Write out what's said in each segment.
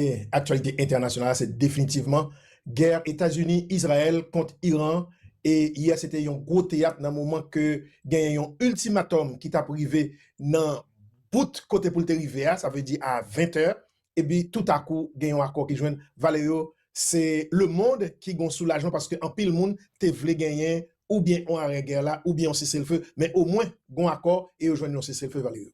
Dènye aktyalite entènasyonal la se definitivman gè Etazini Izrayèl kont Iran e yè se te yon gwo teyat nan moman ke genyen yon iltimatòm ki tap rive nan bout kote pou l te rive a sa vle di a 20 tè epi toutakou gen yon akò ki jwenn valè yo se lemond ki gon soulajman paske anpil moun te vle genyen oubyen yon arè gè la oubyen yon seselfe men omwen gon akò e yo jwenn yon seselfe valè yo.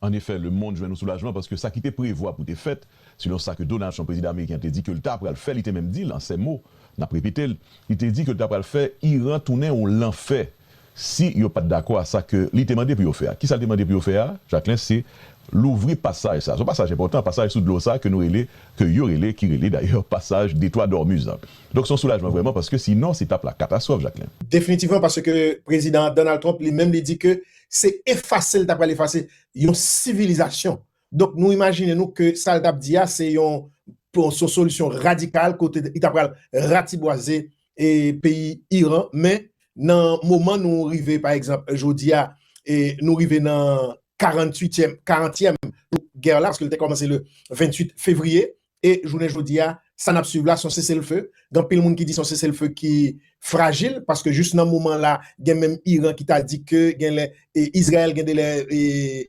An efè, lemonn jwenn yon soulajman paske sa ki te prevwa pou te fèt, selon sa ke Donald Trump, prezidan ameriken an te di ke l ta pral fè, li te menm di l an sè mo, n ap repete l, li te di ke l ta pral fè Iran tounen yon lanfè si yo pa t dakò a sa ke li te mande pou yo fè a. Kisa l te mande pou yo fè a, Jacquelin, se louvri pasaj sa a, se yon pasaj enpòtan, pasaj sou dlo sa a ke nou rele, ke yo rele, ki rele dayè pasaj Detwa Dòmuz lan. Donk se yon soulajman vrèman paske sinon se t ap la katastwòf, Jacquelin. Definitivman, paske prezidan Donald Trump li menm li di ke se efase l ta pral efase yon sivilizasyon. Donk nou imajine nou ke sa l t ap di a se yon solisyon radikal kote li ta pral ratibwaze peyi Iran men nan moman nou rive pa egzanp jodi a nou rive nan karantwityèm karantyèm jou gè la paske l te kòmanse le 28 fevriye E jounen jodi a, sa n ap suiv la s on seselfe. Gen anpil moun ki di s on seselfe ki frajil, paske jis nan moman la, gen menm Iran ki ta di ke gen lè Izrayèl gen de lè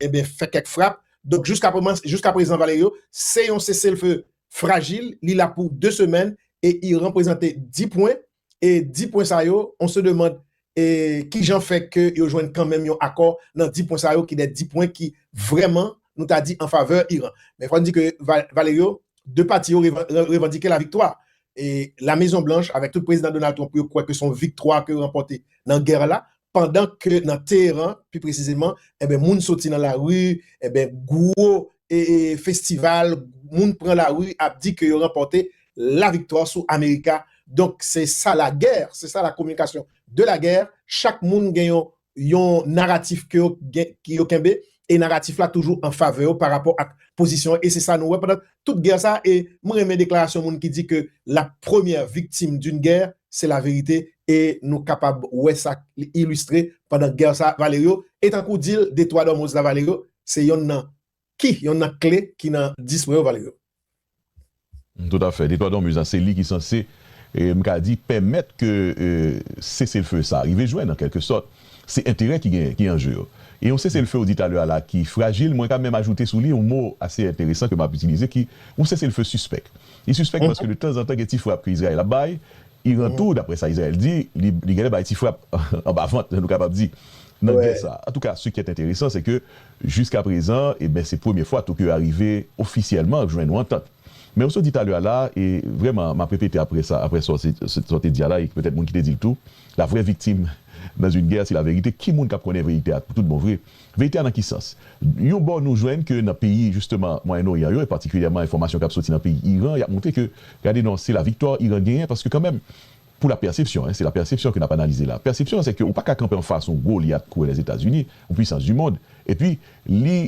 enben fè kèk frap. Donk jiska prezan Valerio, se yon seselfe frajil, li la pou 2 semèn e Iran prezante 10 pwen e di pwen sa yo, on se demande e ki jan fè ke yo jwenn kan menm yon akò nan di pwen sa yo ki de di pwen ki vrèman nou ta di an favè Iran. Men fò n di ke Valerio, de pati yo revandike la viktwa e la Mezon Blanch avèk tout Prezidan Donald Trump yo kwè ke se yon viktwa ke yo ranpòte nan gè la pandan ke nan Teheran, pi presizeman, enben moun soti nan lari, enben gwo festival, moun pran lari ap di ke yo ranpòte la viktwa sou Amerika. Donk, se sa la guerre, se sa la communication de la guerre, chak moun gen yon naratif ke yo kenbe, e naratif la toujou an favè yo pa rapò ak pozisyon an e se sa nou wè pandan tout gè sa e mwen renmen deklarasyon moun ki di ke la premyè viktim d'une guerre c'est la vérité e nou kapab wè sa li ilistre pandan gè sa Valerio e tankou dil de twa dòmoz la Valerio se yonn nan ki yonn nan kle ki nan dispo yo Valerio. Tout a fè. Detwa Donbuz la se li ki sanse, m ka di, pèmèt ke seselfe sa rive jwenn an kèlke sòt. Se enterè ki gen, ki an je yo. E yon seselfe ou di talè a la ki frajil, mwen ka menm ajoute sou li yon mo ase enteresan ke m ap itilize ki yon seselfe sispèk. Li sispèk paske de tanzantan gen ti frap ke Izrayèl ap bay. Iran tou, daprè sa Izrayèl di, li genlè bay ti frap anba vant, jan nou kapab di, nan gè sa a. Antouka, se ki èt enteresan se ke. Jiska prezan, e ben se premye fwa Tokyo a rive ofisyèlman jwenn yon antant. Men ou sot di talè a la, e vrèman m'ap repete aprè sa, aprè sa ou te di a la, e petèt moun ki te di l tou, la vrè viktim dans une guerre se la vérité, ki moun k'ap konnen verite a pou tout bon vre? Verite a nan ki sans? Yon bò nou jwenn ke nan peyi jisteman Mwayen Oryan yo, e patikilyèman enfòmasyon k'ap soti nan peyi Iran, y'ap montre ke gade non se la viktwa Iran genyen, paske kanmenm Pou la pèsepsyon, se la pèsepsyon ke n ap analize la, pèsepsyon an se ke ou pa ka kanpe anfas yon gwo olyat kouwè Lèzetazini, yon pwisans di mond, epi li,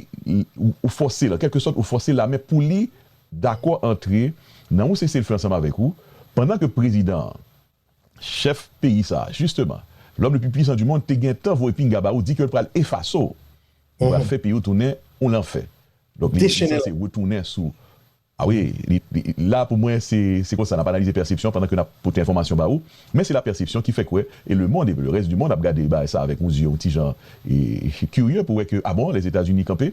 ou fòse l, an kèlke sòt ou fòse lame pou li dakò antre nan yon sese l fe ansanm avèk ou, pandan ke prezidan an, chèf peyi sa a, jisteman, lòm le pli pwisan di mond, te gen tan voye pinga ba ou, di ke l pral efase w, li pral fè peyi w tounen yon lanfè. Donk li sanse retounen sou. A wi, li la pou mwen se se konsa nap analize pèsepsyon pandan ke nap pote enfòmasyon ba ou, men se la pèsepsyon ki fèk wè e le mond e le rès di mond ap gade bagay sa avèk yon zye yon ti jan e kirye pou wè ke a bon Lèzetazini kanpe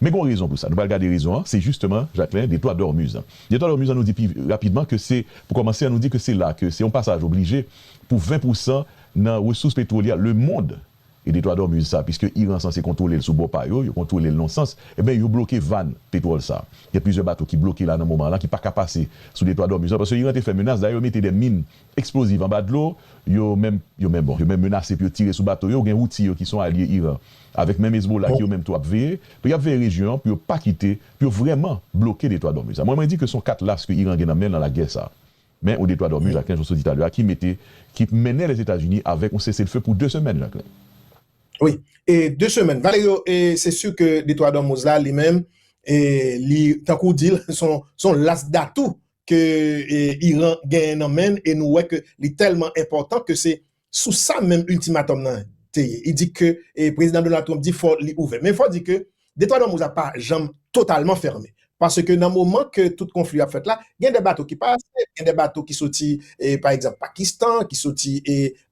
men gon rezon pou sa nou pral gade rezon an se jisteman Jacquelin de Toit Dormuz an de Toit Dormuz an nou di pi rapidman ke se pou kòmanse an nou di ke se la ke se yon pasaj oblije pou 20 pousan nan resous petwolye a le mond E de twa dòmuz sa piske Iran sanse kontwole l sou bò pa yo, yo kontwole l non sans, enben yo bloke vàn petwòl sa. Gen plizyè bato ki bloke la nan moman la ki pa ka pase sou de twa dòmuz la paske Iran te fè menas, dayè yo mete de min eksploziv anba dlo, yo menm yo menm bon yo menm menase pou yo tire sou bato yo, gen Houthi yo ki son alye Iran avèk menm Hezbollah ki yo menm tou ap veye, donk yap veye rejyon an pou yo pa kite, pou yo vrèman bloke de twa dòmuz sa. Mwen mwen di ke son kat las ke Iran gen nan men l nan lagè sa. Men yon deploy dòmi Jaklen Joseph di talè a ki mete ki mennen Lèzetazini avèk yon seselfe pou 2 semèn, Jaklen. Wi, e 2 semèn. Valerio, e se si ke deploy dòmoz la li menm e li tankou w di l son son las datou ke Iran genyen nan men l e nou wè ke li tèlman enpòtan ke se Sou sa menm ultimatum nan te ye. Li di ke Prezidan Donald Trump di fò li ouvè. Men fò di ke Detwa Dòmouz la pa janm totalman fèmen. Paske nan moman ke tout konfli ap fèt la, gen de bato ki pase, gen de bato ki soti pa egzanp Pakistan, ki soti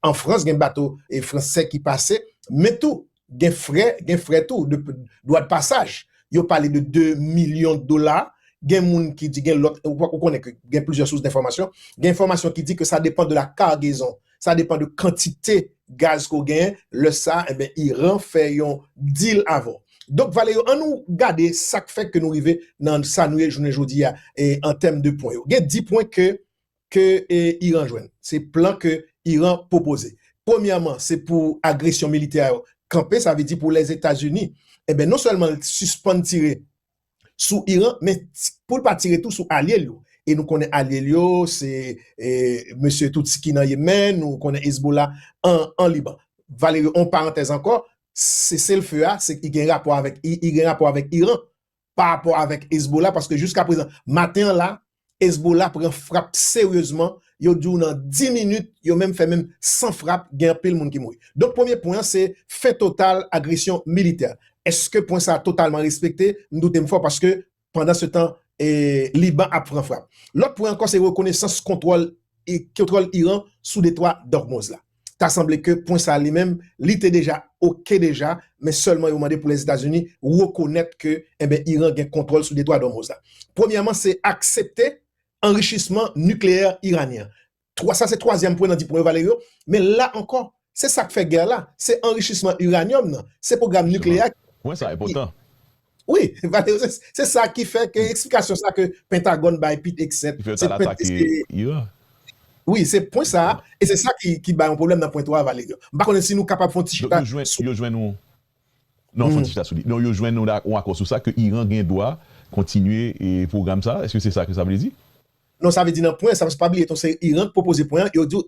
an Frans, gen bato fransè ki pase. Men tou, gen frè, gen frè tou, dwa de pasaj. Yo pale de 2 milyon dola, gen moun ki di gen lòt, ou konnen ke gen plizyè sous denfòmasyon, gen enfòmasyon ki di ke sa depan de la kargezon, sa depan de kantite gaz ke w genyen, lè sa, enben Iran fè yon deal avè w. Donk vale yo, an nou gade sa k fè ke nou rive nan sa nou ye jounen jodi a, an tèm de pwen yo. Gen 10 pwen ke ke Iran jwenn. Se plan ke Iran pwopoze. Premyèman, se pou agresyon militè yo kanpe, sa vle di pou Lèzetazini, enben non sèlman l sispann tire sou Iran, men pou l pa tire tou sou alye l yo. E nou konnen alye l yo, se mesye Tutsi ki nan Yemen, nou konnen Hezbollah an Liban. Valery, yon parantèz ankò, seselfe a, se gen rapò avèk Iran. pa rapò avèk Hezbollah paske jiska prezan maten an la Hezbollah pran frap seryezman yo di w nan 10 minit yo menm fè menm 100 frap gen anpil moun ki mouri. Donk premye pwen an se fen total agresyon militè. Eske pwen sa totalman respekte? M doute m fò paske pandan se tan Liban ap pran frap. Lòt pwen ankò se rekonesans kontwòl Iran sou detwa d'Ormoz la. ta sanble ke pwen sa li menm li te deja ok deja men sèlman yo mande pou Lèzetazini rekonèt ke enben Iran gen kontwòl sou Detwa d'Ormoz la. Premyèman se aksepte anrichisman nikleyè iranyen an. Twa sa se twazyèm pwen nan di pwen yo vale yo men la ankò se sak fè gè la se anrichisman iranyòm nan se pwogram nikleyè a ki Pwen sa enpòtan. Wi, Valery, se sa ki fè ke eksplikasyon sa ke Pentagòn bay Pete Hegseth, se pwen ki se. Wi, se pwen sa, e se sa ki bay yon pwoblèm nan pwen 3 a, Valery. M pa konnen si nou kapab fè yon ti chita sou. Yo jwenn yon. Non, fè yon ti chita sou li. Non, yo jwenn yon akò sou sa ke Iran gen dwa kontinye pwogram sa. Eske se sa ke sa vle di? Non, sa vle di nan pwen sa, paske pa bliye tou se Iran ki pwopoze pwen an, yo di w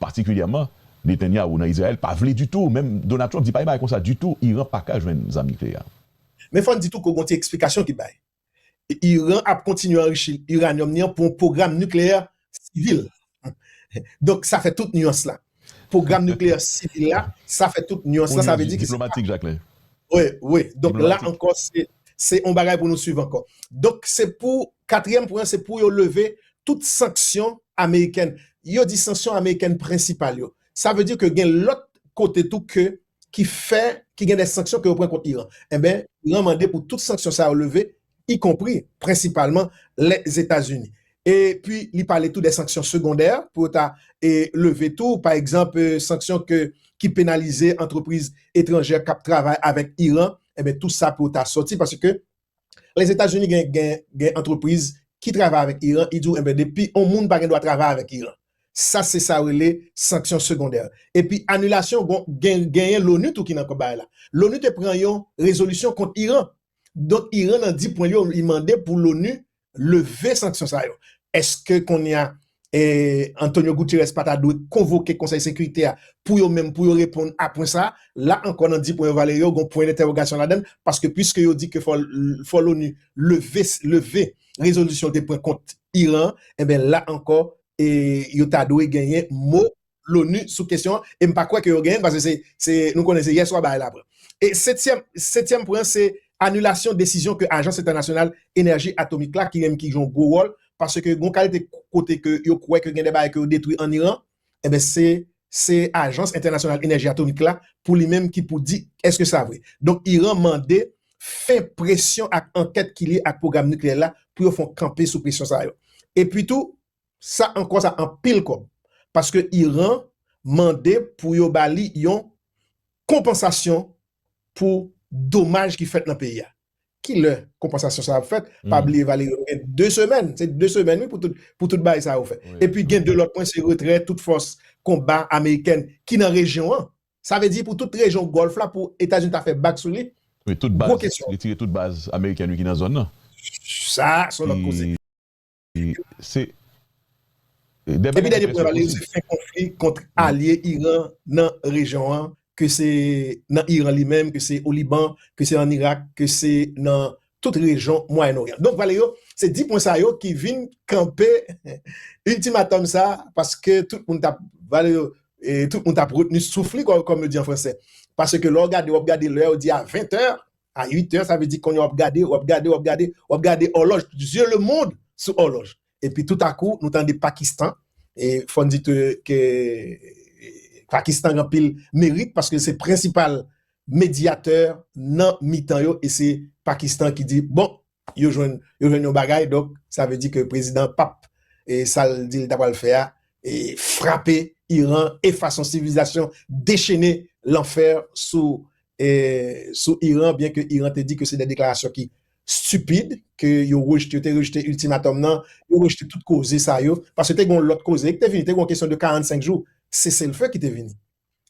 Patikilyèman, Netanyahu nan Izrayèl pa vle ditou, menm Donald Trump di pa gen bagay konsa ditou, Iran pa ka jwenn zam nikleyè. Men fò n di tou ke gon ti eksplikasyon ki bay. Iran ap kontinye anrichi iranyòm ni an pou yon pwogram nikleyè sivil. Donk sa fè tout nuans la. Pwogram nikleyè sivil la, sa fè tout nuans la, sa vle di ke se pa. Diplomatik Jacquelin. Wi, wi. Donk la ankò se yon bagay pou nou swiv ankò. Donk se pou Katriyèm pwen an se pou yo leve tout sanksyon amerikèn. Yo di sanksyon amerikèn prensipal yo. Sa vle di ke gen lòt kote tou ke ki fè ki gen de sanksyon ke yo pran kont Iran. Enben, Iran mande pou tout sanksyon sa yo leve, ikonpri, prensipalman, Lèzetazini. E pi li pale tou de sanksyon segondè pou yo ta leve tou. Pa egzanp, sanksyon ke ki penalize antrepriz etranjè k ap travay avèk Iran. Enben, tou sa pou yo ta sòti paske Lèzetazini gen antrepriz ki travay avèk Iran, li di w enben depi yon moun pa gen dwa travay avèk Iran. Sa se sa yo rele sanksyon segondè. Epi anilasyon genyen loni tou ki nan kòb bagay la. Loni te pran yon rezolisyon kont Iran. Donk Iran nan di pwen l yo, li mande pou loni leve sanksyon sa yo, èske kounye a Antonio Guterres pa ta dwe konvoke Konsèy Sekirite a pou yo menm pou yo reponn a pwen sa a? La ankò nan di pwen yo vale yo, gon pwen dentèwogasyon ladan l, paske piske yo di ke fò l'ONU leve leve rezolisyon l te pran kont Iran an, enben la ankò yo ta dwe genyen mo Lonu sou kesyon an e m pa kwè ke yo genyen l paske se nou konnen se yèswa bagay la pran. E setyèm setyèm pwen an se anilasyon desizyon ke ajans entènasyonal enèji atomik la ki menm ki jwe yon gwo wòl paske gon kalite kote ke yo kwè ke gen de bagay ke yo detwi an Iran enben se se ajans entènasyonal enèji atomik la pou li menm ki pou di èske sa vre. Donk Iran mande fen presyon ak ankèt ki lye ak pwogram nikleyè l la pou yo fon kanpe sou presyon sa yo. Epi tou Sa ankò sa anpil kòb paske Iran mande pou yo ba li yon konpansasyon pou domaj ki fèt nan peyi a. Ki lè konpansasyon sa ap fèt? Pa bliye Valery nou gen 2 semèn, se 2 semèn wi pou tout bagay sa yo fèt. Epi gen 2 lòt pwen se retrè tout fòs konba amerikèn ki nan rejyon an. Sa vle di pou tout rejyon Gòlf la pou Etazini ta fè bak sou li? Wi tout baz, retire tout baz amerikèn wi ki nan zòn nan. Sa a son lòt koze. Epi dènye pwen li se fen konfli kont alye Iran nan rejyon an ke se nan Iran li menm, ke se o Liban, ke se an Irak, ke se nan tout rejyon Mwayen Oryan. Donk vale yo se di pwen sa yo ki vin kanpe iltimatòm sa paske tout moun tap vale yo tout moun tap retni souf li kòm yo di an franse paske lè w gade w ap gade lè yo di a 20 è a 8 heures sa vle di konya wap gade wap gade wap gade wap gade òlòj yeux le monde sou òlòj epi tout a kou nou tande Pakistan e fòn di te ke Pakistan gen anpil merit paske se prensipal mediateur nan mitan yo e se Pakistan ki di bon Yo jwenn yo jwenn yon bagay donk sa vle di ke prezidan pap e sal di li ta pral fè a e frape Iran e fason sivilizasyon dechene lanfè sou e sou Iran byen ke Iran te di ke se de deklarasyon ki stupid ke yo rejte yo te rejte iltimatòm nan yo rejte tout koze sa yo paske te gon lòt koze ki te vini te gon kesyon de 45 jou seselfe ki te vini.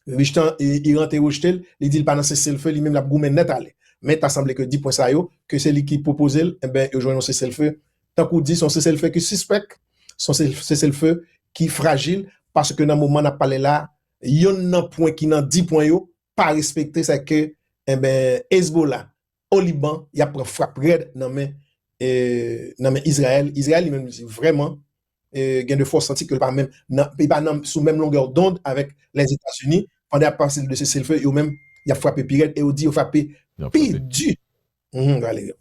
Richten Iran te rejte l, li di l pa nan seselfe, li menm l ap goumen nèt ale. Men ta sanble ke di pwen sa yo, ke se li ki pwopoze l, enben yo jwenn yon seselfe, tankou di se yon seselfe ki sispèk, se yon seselfe ki frajil, paske nan moman n ap pale la, yonn nan pwen ki nan di pwen yo pa respekte, sa ke enben Hezbollah o Liban y ap pran frap rèd nan men Izrayèl, Izrayèl li menm li di vrèman. gen de fwa w santi ke l pa menm nan, li pa nan, sou menm longè dond avèk Lèzetazini, pandan y ap pase de seselfe, yo menm, y ap frape pi rèd e yo di yo frape pi di. Valery.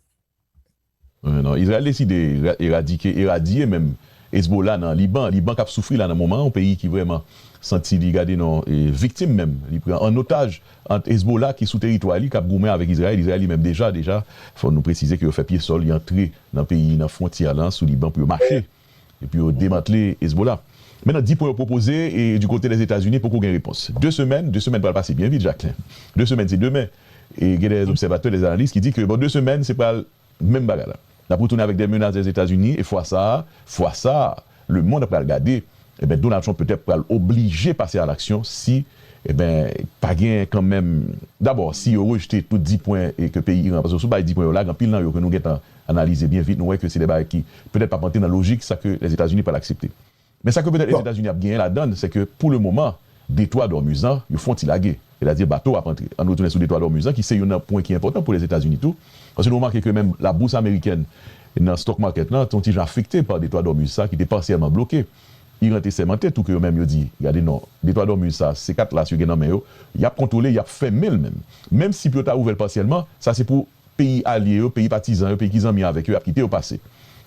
Non, Izrayèl deside eradike, eradye menm, Ezbola nan Liban, Liban k ap soufri la nan moman an, yon peyi ki vrèman santi li, gade non, viktim menm, li pran an otaj. Ant Hezbollah ki sou teritwa li kap goumen avèk Izrayèl, Izrayèl li menm deja deja fò nou presize ke yo fè pye sòl, yo antre nan peyi nan fwontyè lan sou Liban pou yo mache e pou yo demantle Hezbollah. Men nan di pwen yo pwopoze e di kote Lèzetazini poko gen repons. De semèn, de semèn pral pase byen vit Jacquelin. De semèn se demen e gen dè lèzobsèvatè, lèzanalis ki di ke bon de semèn se pral Menm bagay la. Nap retounen avèk dè menas dè Etazini e fwa sa a, fwa sa a, le mond ap pral gade, enben Donald Trump petèt pral oblije pase a laksyon si, enben, pa gen kan menm, dabò, si yo rejte tout 10 pwen ke peyi Iran, paske si w bay 10 pwen yo la, gen anpil nan yo ke nou gentan analize byen vit, nou wè ke se dè bagay ki petèt pap antre nan lojik sa ke Lèzetazini pral aksepte. Men sa ke petèt Lèzetazini ap genyen ladann, se ke pou le moman, detwa Dòmizan, yo fon ti lage. Sètadi bato ap antre. Ann retounen sou detwa Dòmizan ki se youn nan pwen ki enpòtan pou Lèzetazini tou. Paske nou remake ke menm labous amerikèn nan stock market lan te yon ti jan afekte pa detwa Dòmiz sa ki te pasyèlman bloke. Iran te sèmante tou ke yo menm yo di, gade non, detwa Dòmiz sa, se kat las yo gen nan men yo, y ap kontwole, y ap fèmen l menm. Menm si pou yo ta ouvè l pasyèlman, sa se pou. peyi alye yo, peyi patizan yo, peyi ki zanmi avèk yo, y ap kite yo pase.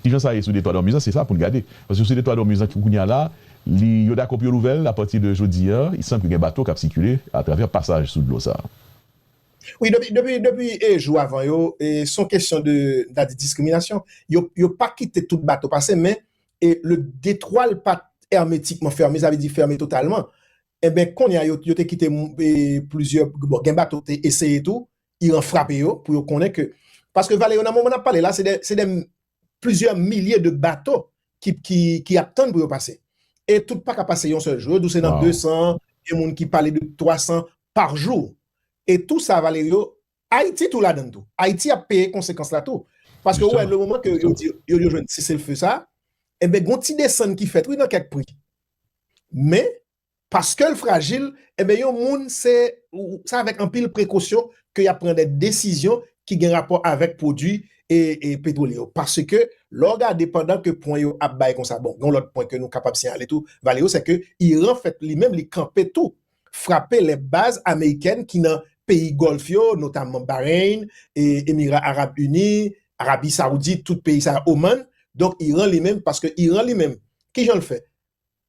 Ki jan sa ye sou detwa Dòmiz lan? Se sa pou n gade. Paske sou detwa Dòmiz lan, kounye a la, li, yo dakò pou yo louvè l apati de jodi a. Li sanble ke gen bato k ap sikile atravè pasaj sou dlo sa a. Wi, depi, depi, depi jou avan yo, se yon kesyon de, m ta di diskriminasyon. Yo, yo pa kite tout bato pase, men le detwa l pa t èmetikman fèmen, sa vle di fèmen totalman. Enben, kounye a, yo, yo te kite plizyè, bon, gen bato ki te eseye tou, Iran frape yo pou yo konnen ke, paske vale yo nan moman nap pale la se de se de plizyè milye de bato ki ap tann pou yo pase e tout paka pase yon sèl jou yo di w se nan 200 gen moun ki pale de 300 par jou e tou sa vale yo Ayiti tou ladann tou Ayiti ap peye konsekans la tou paske ou wè le moman ke yo di yo yo jwenn seselfe sa enben gon ti desann ki fèt wi nan kèk pri men Paskel frajil enben yon moun se se avèk anpil prekosyon ke yap pran de desizyon ki gen rapò avèk pwodwi petwolye yo paske lè w gade pandan ke pwen yo ap bay konsa bon gen yon lòt pwen ke nou kapab siyale tou Valero se ke Iran fèt li menm li kanpe tou frape lè baz amerikèn ki nan peyi Gòlf yo notamman Bahrain Emira Arab Ini Arabi Saoudit tout peyi sa Oman donk Iran li menm paske Iran li menm kijan l fè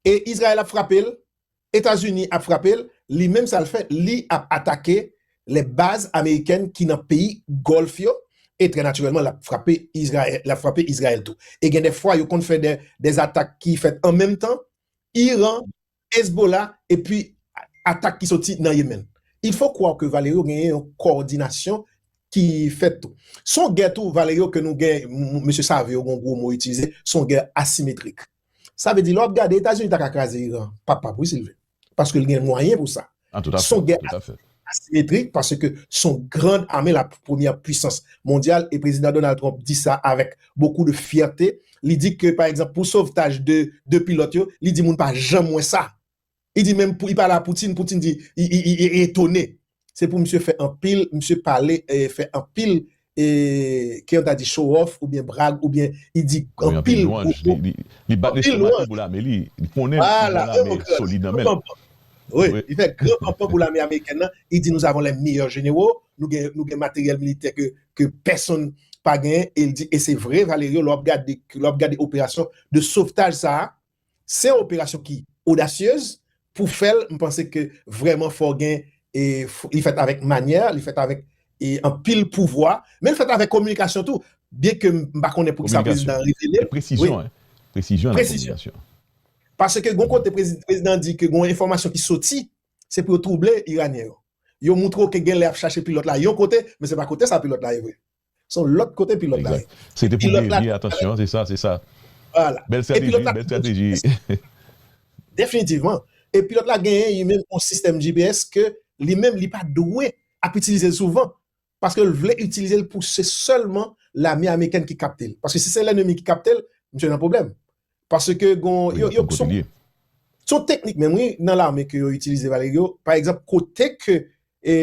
E Israel ap frapel, Etazini ap frapel, li menm sal fè li ap atake lè baz amerikèn ki nan peyi Gòlf yo e trè natirèlman lap frape Israel, lap frape Israel tou. E gen dè fwa yo konn fè dè atak ki fèt an menm tan, Iran, Hezbollah epi atak ki soti nan Yemen. Il faut croire que Valerio genyen yon kòdinasyon ki fèt tou. Son gè tou Valerio ke nou gen, mesye save yo gen yon gwo mo itilize, son gè asimetrik. Sa vle di lè wap gade etazini ta ka kraze iran pap pap wi silvy paske li gen mwayen pou sa son gè asimetrik paske son gran ame la premyè pwisans mondyal e prezidan donald trump di sa avèk bokou de fyète li di ke pa egzanp pou sovtaj de pilòt yo li di moun pa janm wè sa. Li di menm pou i pale a Poutine, Poutine di i etone. Se pou misye fè anpil, misye pale fè anpil e ke yon ta di show off oubyen brag oubyen i di anpil gwo mo. Anpil lwanj. Li bat lestomak li pou lame li. Li konnen yon lame ki solid nan men l. Wi, li fè gran panpan pou lame amerikèn nan. I di nous avons les meilleurs généraux. Nou gen materyèl militè ke pèsonn pa gen. E li di e se vre Valerio lè w ap gade operasyon de sovtaj sa a. Se yon operasyon ki audacieuses pou fèl m panse ke vrèman fò gen e li fèt avèk manyè li fèt avèk e anpil pouvwa menl fèt avèk kominikasyon tou byen ke m pa konnen poukisa prezidan an revelel wi presizyon paske gon kote prezidan di ke gon enfòmasyon ki soti se pou yo twouble iranyen yo yo moutre w ke genlè yap chache pilòt la yon kote men se pa kote sa pilòt la ye vre. Se yon lòt kote pilòt la ye. Se te pou devye atansyon, se sa, se sa. Vwala. Bèl strateji, bèl strateji. Definitivman. E pilòt la genyen li menm yon sistèm GPS ke li menm li pa dwe ap itilize l souvan paske l vle itilize l pou se sèlman lame amerikèn ki kapte l. Paske si se lènemi ki kapte l, misye nan pwoblèm. Paske gon, yo, yo, se yon, se yon teknik menm wi nan lame ke yo itilize, Valerio. Pa egzanp, kote ke e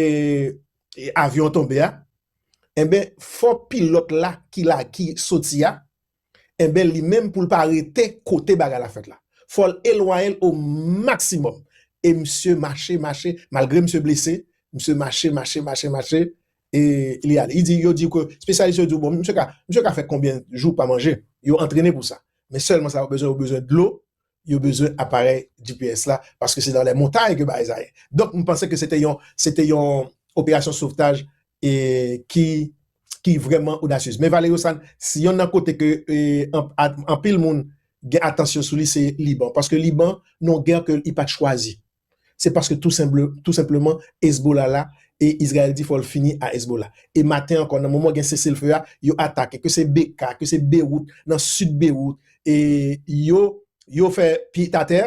avyon an tonbe a, enben fò pilòt la ki la ki soti a, enben li menm pou l pa rete kote bagay la fèt la. Fò l elwaye l o maksimòm. E misye mache, mache, malgre misye blese, misye mache, mache, mache, mache, e li ale. Li di, yo di ke, spesyalis yo di w bon, misye ka, misye ka fè konbyen jou pa manje? Yo antrene pou sa. Men sèlman sa yo bezwen, yo bezwen dlo, yo bezwen aparèy GPS la paske se nan lè montay ke bagay sa ye. Donk m panse ke se te yon se te yon operasyon sovtaj e ki ki vrèman odasyez. Men Valerio Sann si yonn nan kote ke anpil moun gen atansyon sou li se Liban paske Liban non gè ke li pat chwazi. se paske tou tou senpleman Hezbollah la e Izrayèl di fò l fini a Hezbollah. E maten ankò nan moman gen sese l feu a yo atake ke se Bekaa, ke se Bewout nan sid Bewout e yo yo fè pit atè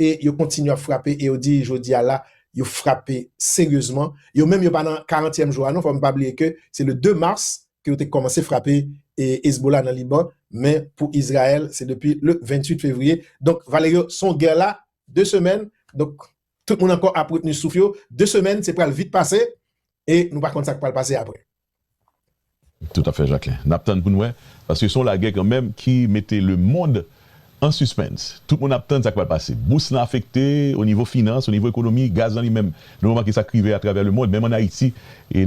e yo kontinye ap frape e yo di jodi a la yo frape seryezman. Yo menm yo pa nan karantyèm jou a non fò n pa bliye ke se le 2 mars ke yo te kòmanse frape e Hezbollah nan Liban men pou Izrayèl se depi le 28 fevriye donk Valerio son gè la 2 semèn, donk tout moun ankò ap retni souf yo, 2 semèn se pral vit pase e nou pa konn sa k pral pase aprè. Toutafè Jacquelin. N ap tann pou n wè, paske se yon lagè kanmenm ki mete lemond an sispens. Tout moun ap tann sa k pral pase. Bous lan afekte onivo finans, onivo ekonomi, gaz lan li menm nou remake sa k rive atravè lemond, menm ann Ayiti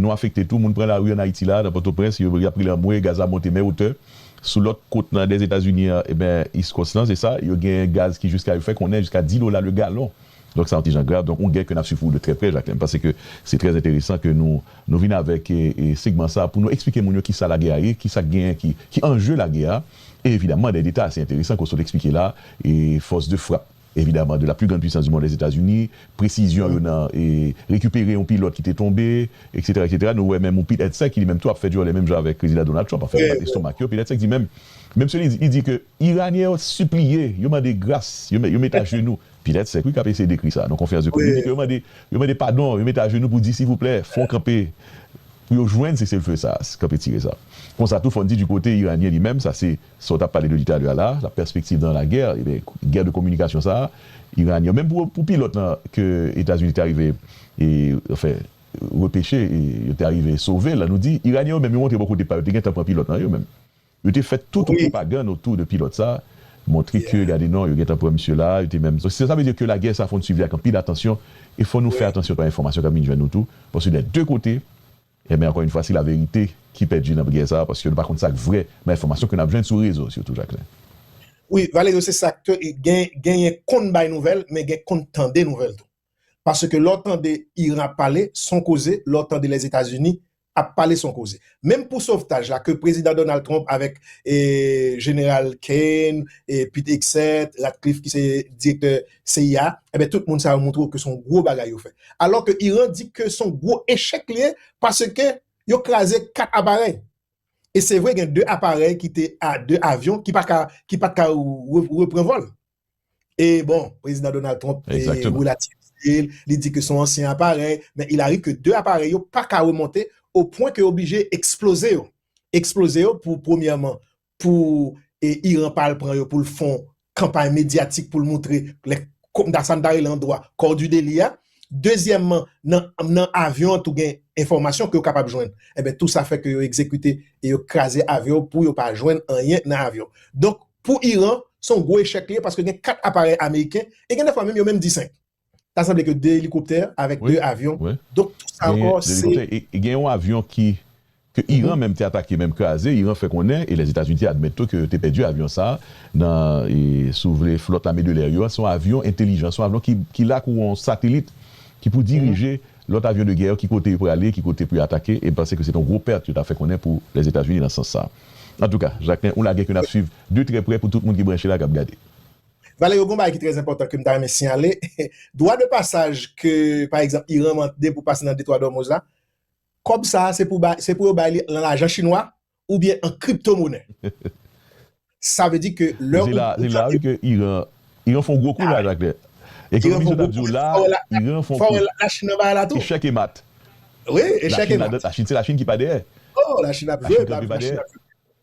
nou afekte tou, moun pran lari ann Ayiti la, nan Pòtoprens, y ap rele anmwe gaz la monte men otè. Sou lòt kot nan dè Etazini an, eben, East Coast lan, se sa, yo gen gaz ki jiska, yo fè konnen, jiska 10 dola le galon. Donk sa yon ti jan grav. Donk yon gè ke n ap swiv pou ou de trè prè, Jacquelin. M panse ke se trè enteresan ke nou, nou vin avèk segman sa a pou nou eksplike moun yo ki sa lagè a ye, ki sa k genyen ki, ki anje lagè a. E evidaman dè deta ase enteresan ke w sot eksplike la, e fòs de frap. evidaman de la plus grande puissance du monde les Etats-Unis, presizyon yo nan rekipere yon pilòt ki te tonbe, eksetera, eksetera, nou wè menm yon Pete Hegseth ki li menm tou ap fè djòlè menm jan avèk Prezidan Donald Trump, anfen yo bat estomak yo, Pete Hegseth di menm, menm si li di ke Iranyen yo sipliye, yo mande gras, yo mete ajenou, Pete Hegseth wi kap eseye dekri sa nan konferans de près, li di ke yo mande, yo mande padon, yo mete ajenou pou di sivouplè, fon kanpe, pou yo jwenn seselfe sa, kanpe tire sa. Konsa tou fòn di di kote Iranyen li menm, sa se. Sa w t ap pale de li talè a la, la perspective dans la guerre, ebyen guerre de communication sa a, Iranien, menm pou pilot lan ke Etazini te arive e anfen repeche, yo te arive sove l, nou di Iranien yo menm yo montre bò kote pa yo te gentan pran pilot lan yo menm. Yo te fè tout yon pwopagand otou de pilot sa, montre ke gade non yo gentan pran misye la, yo te menm, sa vle di ke lagè sa fò n swiv li ak anpil atansyon e fò nou fè atansyon pa enfòmasyon k ap vin jwenn nou tou, paske dè de kote, E men ankò yn fwa si la verite ki pèdi nan bgy sa paske nou pa konn sak vrè nan enfòmasyon ke nap jwenn sou rezo sitou Jacquelin. Wi Valerio se sak ke gen genyen konn bay nouvèl men gen konn tande nouvèl tou paske lè w tande Iran ap pale son koze lè w tande Lèzetazini ap pale son koze menm pou sovtaj la ke prezidan Donald Trump avèk jeneral Kane e pit Hegseth Ratcliffe ki se direktè cia, enben tout moun sa yo montre w ke se yon gwo bagay yo fè. Alò ke Iran di ke se yon gwo echèk li ye paske yo kraze 4 aparèy. E se vre gen 2 aparèy ki te a 2 avyon ki pa ka ki pat ka repran vòl. E bon, Prezidan Donald Trump relativise l, li di ke se yon ansyen aparèy, men il arrive ke 2 aparèy yo pa ka remonte o pwen ke yo oblije eksploze yo. Eksploze yo pou premyèman pou Iran pa al pran yo pou l fon kanpay medyatik pou l moutre lè kòmta sa n ta rele an dwa kò di deli a. Dezyèmman, nan nan avyon an tou gen enfòmasyon ke yo kapab jwenn. Enben tou sa fè ke yo egzekite e yo kraze avyon pou yo pa jwenn anyen nan avyon. Donk pou Iran, se yon gwo echèk li ye paske gen 4 aparèy ameriken e gen dèfwa menm yo menm di 5. Ta sanble ke 2 elikoptè avèk 2 avyon, donk tout sa ankò se. Gen yon avyon ki, ke Iran menm te atake menm kraze, Iran fè konnen, e Lèzetazini te admèt tou ke yo te pèdi avyon sa a nan, si w vle, flòt lame de lè yo a, se yon avyon entelijans, se yon avyon ki la kou yon satelit ki pou dirije lòt avyon de gè yo ki kote yo prale, ki kote pou yo atake, e m panse ke se te yon gwo pèt yo ta fè konnen pou Lèzetazini nan sans sa a. Antouka, Jacquelin, yon lagè ke n ap swiv de trè prè pou tout moun ki branche la k ap gade. Valè yo gon bagay ki trè enpòtan kem ta renmen siyale dwa de pasaj ke pa egzanp Iran mande pou pase nan detwa dòmoz la kòb sa se pou bay se pou yo bay li lan lajan chinwa ou byen an kripto monè sa vle di ke lè ou fè se la wi ke Iran Iran fon gwo kou laj ak lè ekonomis yo tap diw la Iran fon kou la chin nan bagay la tou echèk e mat wi echèk e mat la chin se la chin ki pa dèyè oh la chin ap jwe la chin ap jwe.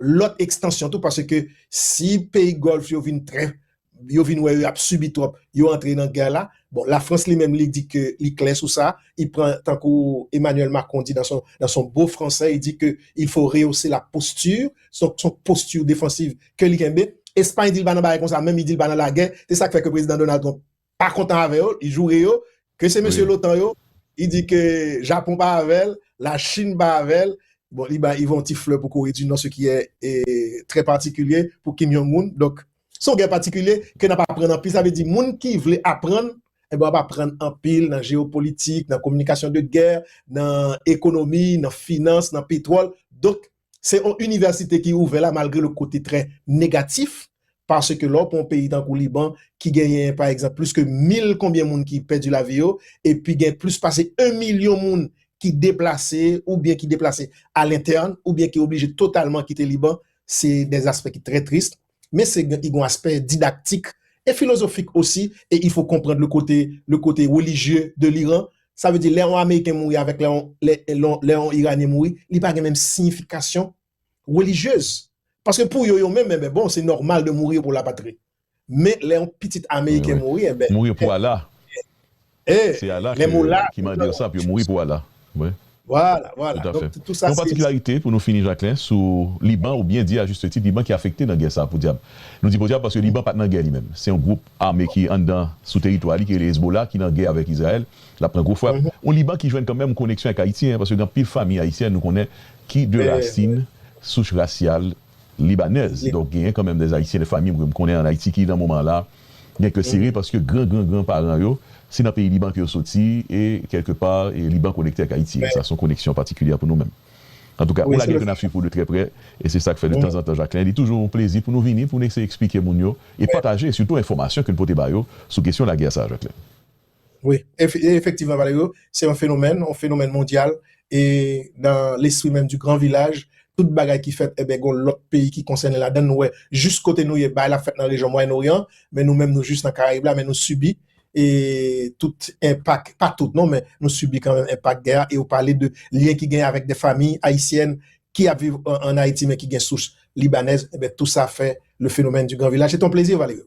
lòt ekstansyon tou paske si peyi gòlf yo vin trè yo vin wè yo ap sibi twòp yo antre nan gè la bon la frans li menm li di ke li klè sou sa li pran tankou Emmanuel Macron di nan son bo fransè li di ke il fo reyouse la postur son son postur defansiv ke li kenbe Espagne di li pa nan bagay konsa menm li di li pa nan lagè se sak fè ke prezidan Donald Trump pa kontan avè yo, li joure yo ke se mesye lotan yo, li di ke Japon pa avè l, la Chine pa avè l, bon li bay yon ti flè pou Kore di Nò se ki è trè patikilye pou Kim Jong Un, donk se yon gè patikilye ke n ap aprann anpil, sa vle di moun ki vle aprann, enben w ap aprann anpil nan jeopolitik, nan kominikasyon de gè, nan ekonomi, nan finans, nan petwòl, donk Se yon inivèsite ki ouvè la malgre lòt kote trè negatif paske lè w pran yon peyi tankou Liban ki genyen pa egzanp plis ke mil konbyen moun ki pèdi lavi yo epi gen plis pase 1 milyon moun ki deplase oubyen ki deplase a lentèn oubyen ki oblije totalman kite Liban se de aspè ki trè trist. men se gen igon aspè didaktik e filozofik osi e ifo konprand le kote le kote relijye de liran sa vle di lè on ameriken mouri avèk lè on lè lon lè on iranyen mouri li pa gen menm siyifikasyon relijyez paske pou yo yo menm enben bon se nòmal de mourir pou la patrie men lè on pitit ameriken mouri enben mourir pou Allah. Hey, Se Allah lè mou la, ki tout mande ansanm pou yo mouri pou Allah. Mwen. Voilà, voilà. Tout afè. Tout sa se. Yon patikilarite pou nou fini Jacquelin sou Liban ou byen di a juste tit Liban ki afekte nan gè sa podyab. Nou di podyab paske Liban pat nan gè li menm. Se yon gwoup ame ki anndan sou teritwa li ki rele Hezbollah ki nan gè avèk Izrayèl. Lap pran gwo frap. Yon Liban ki jwenn kanmenm koneksyon ak Ayiti hein paske gen anpil famiy Ayisyen nou konnen ki de rasin, souch rasyal, Libanèz. Donk genyen kanmenm dè Ayisyen, dè fanmi mwen m konnen an Ayiti ki nan moman la gen kè sere paske gran gran gran paran yo se nan peyi Liban ke yo soti e kèlke pa e Liban konekte ak Ayiti e sa son koneksyon patikilyè pou nou menm. Antouka, on lagè ke n ap swiv pou de trè prè e se sa k fè de tanzantan Jacquelin li toujou on plezi pou nou vini pou n eseye eksplike moun yo e pataje sitou enfòmasyon ke n pote ba yo sou kesyon lagè sa a Jacquelin. Wi, efektivman Valerio, se yon fenomèn, yon fenomèn mondyal e nan lespri menm di gran vilaj, tout bagay ki fèt eben gon lòt peyi ki konsène ladann, nou wè jis kote nou ye bagay la fèt nan rejyon Mwayen Oryan men nou menm nou jis nan Karayib la men nou sibi e tout enpak, pa tout non men nou sibi kanmenm enpak gè a e ou pale de lyen ki genyen avèk de famiy ayisyèn ki ap viv an Ayiti men ki gen sous libanèz, eben tou sa fè le fenomèn di gran vilaj, se te yon plezi Valerio.